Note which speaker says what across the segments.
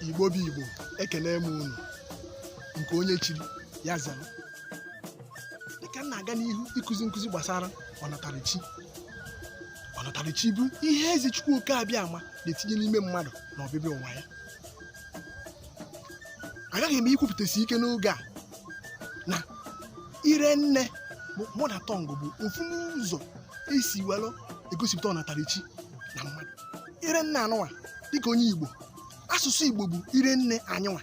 Speaker 1: igbo bụ igbo ekene m unu nke onye chiri ya zara dịka m na-aga n'ihu ịkụzi nkụzi gbasara ọnatarachi ọnatarachi bụ ihe eze chukwu oke abịama na-etinye n'ime mmadụ na ọbịbịa ụwa ya agaghị m ikwupụtasi ike n'oge a na ire nne mother tongue bụ ofu n'ụzọ esi were egosipụta ọnatarachi na mmadụ ire nne anyịnwa dịka onye igbo asụsụ igbo bụ ire nne anyịnwa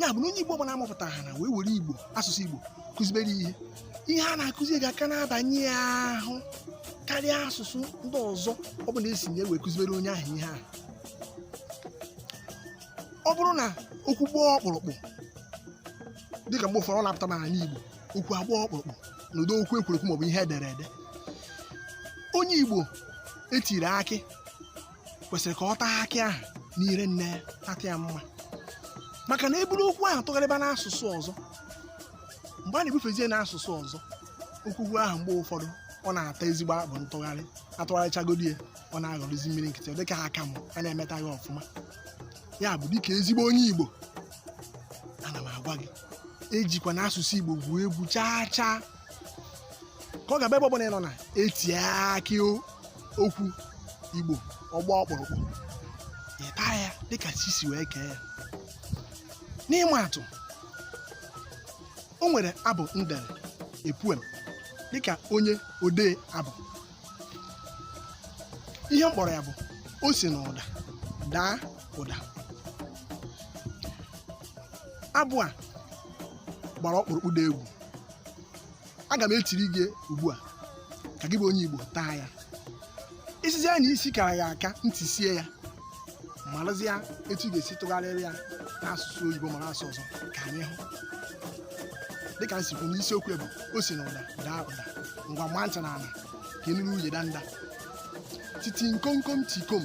Speaker 1: ya bụ na onye igbo ọbụla amụpụtara ha na wee were igbo asụsụ igbo kụzibere ihe ihe a na-akụzi ga-aka na-abanye ya ahụ karịa asụsụ ndị ọzọ ọbụla esi na ya wee kụzibere onye ahụ ihe ahụ ọ bụrụ na okwu gbaa ọkpụrụkpụ dịka mgbe ụfọdụ ọ na-apụta n'ala igbo okwu agbaa ọkpụrụkpụ na ụdị okwu ekwuru ekwu maọbụ ihe edere ede onye igbo etiri akị kwesịrị ka ọ taa akị ahụ n'ire nne ya tata ya mma maka na eburu okwu ahụ tụgharịba n'asụsụ ọzọ mgbe a na-ebufezie n'asụsụ ọzọ okwukwu ahụ mgbe ụfọdụ ọ na-ata ezigbo akpụ ntụgharị atụgharịchagodi ya ọ na-aghọrọzi mmiri nkịtị ọ dịka aka m a na-emetaghị ọfụma ya bụ dịka ezigbo onye igbo ana m agwa gị ejikwana asụsụ igbo gwuo egwu chaa chaa ka ọ ga-abụ ebe ọbụla ị nọ na etie akị o- okwu igbo ọ gbaa ọkpụrụkpụ ị taa ya dịka chi si wee kee ya n'ịma atụ o nwere abụ m dere a poem dịka onye odee abụ ihe m kpọrọ ya bụ o si n'ụda daa ụda abụ a gbara ọkpụrụkpụ dị egwu aga m etiri gị ugbu a ka gị bụ onye igbo taa ya isizi ya na isi kara ya aka ntị sie ya marazie etu ị ga-esi tụgharịrị ya n'asụsụ oyibo ma n'asụsụ ọzọ ka anyị hụ dịka m si kwuo na isiokwu bụ o si na ụda daa ụda ngwa ṅaa ntị na ala ka ị nụrụ uye danda titi nkomkom tikom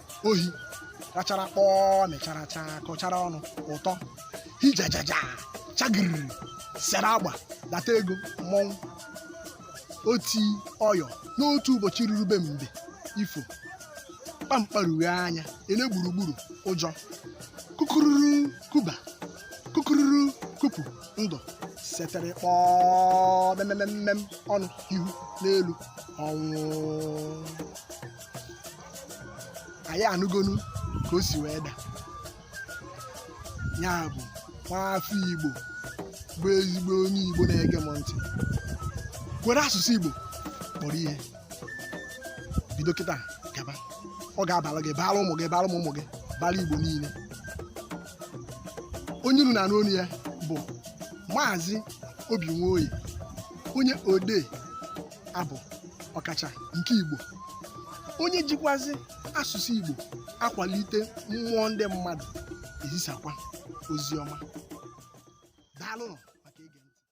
Speaker 1: ohi rachara kpọọ mechara chaa kọchara ọnụ ụtọ hijajaja chagiriri sere agba data ego mmọnwụ oti ọyọ n'otu ụbọchị ruru be mbe ifo kpamkparughe anya ele gburugburu ụjọ kukururu kuba kukururu kupu ndụ setere kpọọ memememem ọnụ ihu n'elu ọnwụ anyị anụgonu ka o si wee daa ya bụ nwaafọ igbo bụ ezigbo onye igbo na-ege m ntị were asụsụ igbo kpọrọ ihe bido kịta gaba ọ ga-abara gị baara ụmụ gị baara ụmụ ụmụ gị baara igbo niile onye unu na-anụ onu ya bụ maazị obi nwoye onye odee abụ ọkacha nke igbo onye jikwazi asụsụ igbo akwalite mmụọ ndị mmadụ ezisakwa ozi ọma daalụnụ